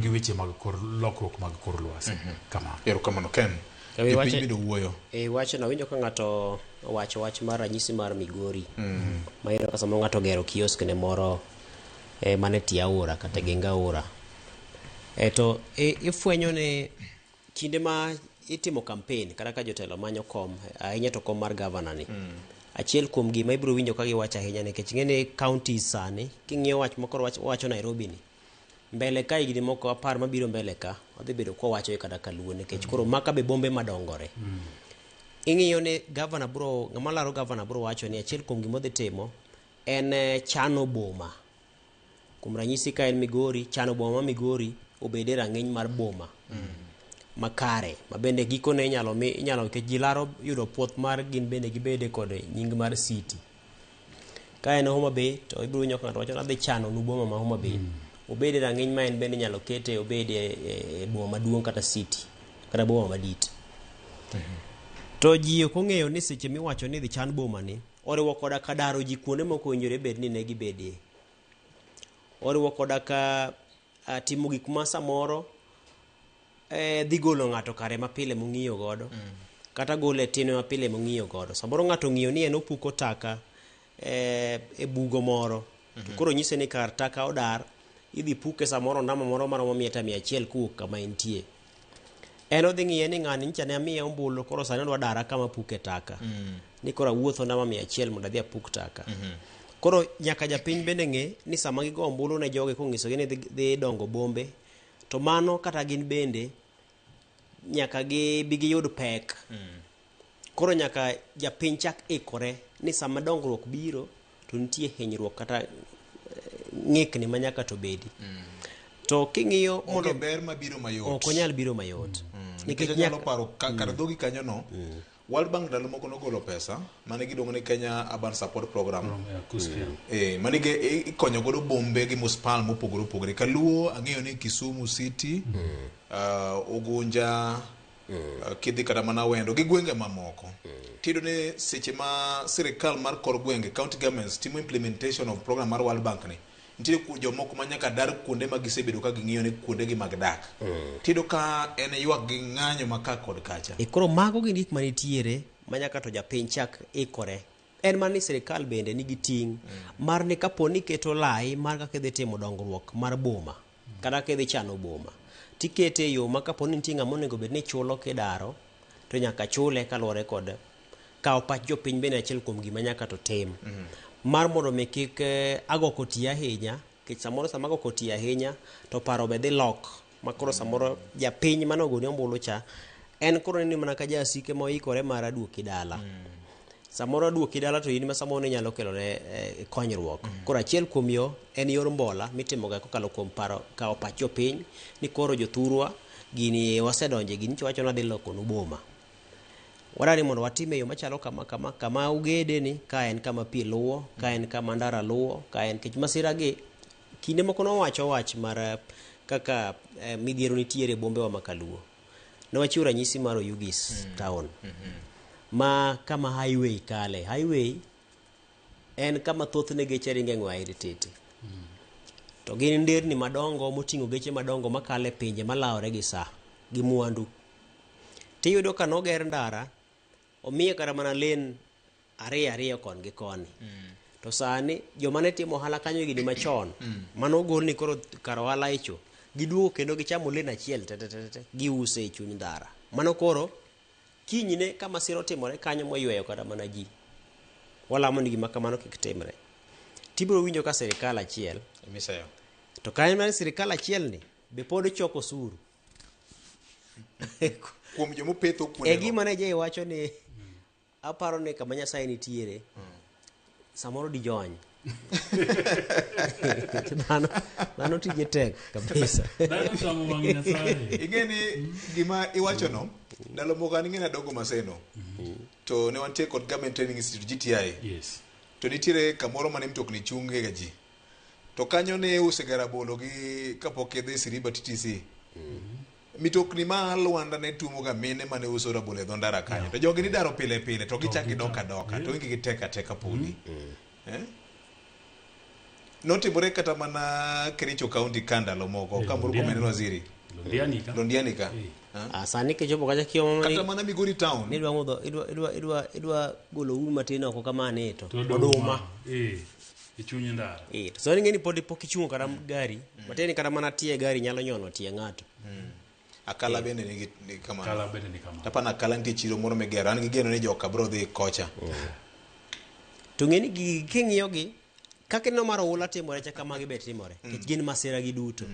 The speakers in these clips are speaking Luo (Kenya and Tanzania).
gi weche mag kor lokruok mag kor lwasi. Mhm. Kama. Erokamano Ken. E piny bedo wuoyo. E wach na winjo ka ng'ato owacho wach mar ranyisi mar Migori. Mhm. Ma yero ka samoro ng'ato gero kiosk ne moro e mane tie aora kata e genga aora. E to e, ifwenyo ne kinde ma itimo campaign kata ka jotelo manyo kom ahinya to kom mar governor ni. Mm. Achiel kuom gima ibiro winjo ka giwacho ahinya nikech ng'e ni county sani king'iyo wach mokoro wacho Nairobi ni. mbele ka higni moko apar mabiro mbele ka wadhi bedo kwawacho kata kaluo nikech koro maka be bombe madongore ing'iyo ni gavana bro ng'ama laro gavana bro wacho ni achiel kuom gima odhi timo en eh, chano boma kuom ranyisi ka en migori chano boma ma migori obed e rang'iny mar boma makare ma bende gikone inyalo mi inyalo nikech ji laro yudo puoth mar gin bende gibede kod nying mar city Ka en Homa Bay to ibiro winjo ka ng'ato wacho ni adhi chano nu boma ma Homa Bay. Mm. Obed e rang'iny ma en bende inyalo kete obed e, e, e boma maduong' kata city kata boma madit. To ji ok ong'eyo ni seche miwacho ni dhi chan boma ni oriwo koda ka daro ji kuonde moko owinjore bed ni ne gibedie. Oriwo koda ka timo gik ma samoro eh, dhi golo ng'ato kare mapile mong'iyo godo kata gole e tinwe mapile mong'iyo godo samoro ng'ato ong'iyo ni en opuko taka eh, e bugo moro to koro nyise ni kar taka odar idhi puke samoro ndamo moro maromo mita mia achiel kowuok kama entie en odhi ng'iye ni ng'ani nyicha ne amiye ombulu koro sani odwa dara kama puke taka ni koro awuotho ndama mia achiel mondo adhi apuk taka koro nyaka japiny bende ng'e ni sama gigo ombulu ne jogi kong'isogi ni dhi- dhi dongo bombe to mano kata gin bende nyaka gibi giyud pek koro nyaka japiny chak ikore ni sama dongruok biro to nitie hinyruok kata eh, ng'ikni ma nyaka to bedi to king'iyo onge mondo ber mabiro mayot ok onyal biro mayot nikech onyalo paro ka- kar dhogi kanyono World Bank ndalo moko nogolo pesa mane giluongo ni Kenya Urban Support Program mm. e, mane ikonyo godo bombe gi muspal mopogore opogore Kaluo ang'eyo ni Kisumu City mm. uh, Ugunja mm. uh, kidhi kata mana wendo gi gwenge mamoko mm. tido ni seche ma sirikal mar kor gwenge county governments timo implementation of program mar World Bank ni nitie ku- jomoko ma nyaka dar kuonde ma gisebedo ka ging'iyo ni kuondegi mag dak tiyudo ka en ywak gi ng'anyo ma ka kod kacha E koro mago gin gik manitiere ma nyaka to japiny chak ikore en mana ni sirikal bende nigi ting' mar ni kapo ni iketo lai mar kaka idhi timo dongruok mar boma kata kaka idhi chano boma tikete e yo ma kapo ni nitie ng'ama onego bed ni chulo kidaro to nyaka chule kaluwore kod Kawo pach jopiny bende achiel kuom gima nyaka to tim. Mar mondo mi kik eh, ago koti ahinya, nikech samoro sama ago koti ahinya to paro be dhi lok ma koro samoro japiny mane ogoni ombulu cha en koro neni mana ka jasike moikore mar aduoki dala. Samoro aduoki dala to in ma samoro ne inyalo kelone eh, konyruok. Koro achiel kuom yo en yor mbola mitimoga kokalo kuom paro kawo pach jopiny ni koro jothurwa gini wasedonje gini to wacho ni wadhi lokonu boma. Wadwaro ni mondo watim e yo machalo kama kama, kama ugede ni ka en kama pi luwo, ka en kama ndara luwo, ka en kech masira gi kinde moko nowacho wach mar eh, kaka eh, midhiero nitiere e bombewa ma Kaluo. Ne wachiwo ranyisi mar Oyugis town ma kama highway kale. Highway en kama thothne geche ringe ng'we airi titi. To gin nderni madongo moting'o geche madongo makale pinje malawore gi saa gi mwandu tiyudo ka noger ndara omiye kata mana len ariyo ariyo kon gi koni to sani joma ne timo ohala kanyo higni machon mane ogol ni koro kar ohala icho giduogo kendo gichamo len achiel te te te te giuse e chuny ndara mano koro kinyne ka masira otimore kanyo moyweyo kata mana ji walamo ni gima kamano kik timre tibiro winjo ka sirikal achiel Misayo. to kanyo mar sirikal achielni be pod choko osuru kuom joma opetho e kuonde gima ne jay wacho ni aparo ni kama nyasaye nitiere samoro dijony dhano dhano tije tek kabisa Dhano chamo wang' Nyasaye. ing'e ni gima iwachono ndalo moko an ing'e nadongo maseno to ne wantie kod government training institute gti Yes. to nitiere kamoro mane mtokni chunge ga ji to kanyo ne iusega rabolo gi kapok idhi Siriba TTC. Mitokni ma Luanda ne tuomoga mine mane uso rabolo e dho ndara kanyo. To jogi nidaro pile pile to gichak gidok adoka to wengegi tek ateka podi. Eh? Notimore kata mana Kericho County ka ndalo moko ka Murkomen Londiani. waziri. Londiani ka. Londiani ka. Eh. Ah. Ah, sani kichopo kacha kiomo Kata mana Migori town. ni idwa ng'udho idwa idwa idwa idwa golo um matin oko kamane to To oduma. Eh. e chuny ndara Eh, to sani ng'eni pod pok ichungo kata gari matieni kata mana tie gari nyalo nyono tie ng'ato akala bende nigi nigi kamano kala bende ni kamano tapana akala nitie chiro moro migero an gigeno ni joka bro dhi kocha to ng'eni gi- king'iyogi kaka ineno mar oula timore cha kamagi be timore nikech gin masira gi duto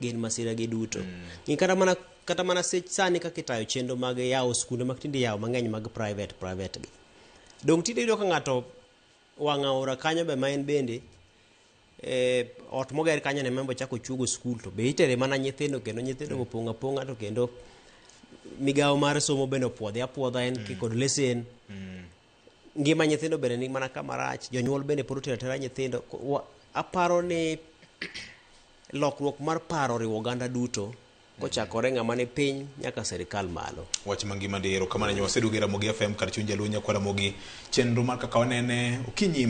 gin masira gi duto Ng'i kata mana kata mana sech sani kaka itayo chenro mag yawo skunde mag tinde yawo mang'eny mag private private gi dong tinde yudo ka ng'ato wang' aora kanyo be ma en bende eh, ot moger kanyo ne membo chako chuogo skul to be itere mana nyithindo kendo nyithindo go pong' apong'a to kendo migawo mar somo bende opuodhe apuodha en mm. kod lesen mm. ngima nyithindo bende ni mana kama rach jonyuol bende pod otero atera nyithindo Ko- wa- aparo ni lokruok mar paro oriwo oganda duto kochakore ng'ama ni piny nyaka sirikal malo. Wach mangima ndi erokamano nyo waseduogo e Ramogi FM kar chuny jaluo nyakwar Ramogi chenro mar kaka wanene okinyi ma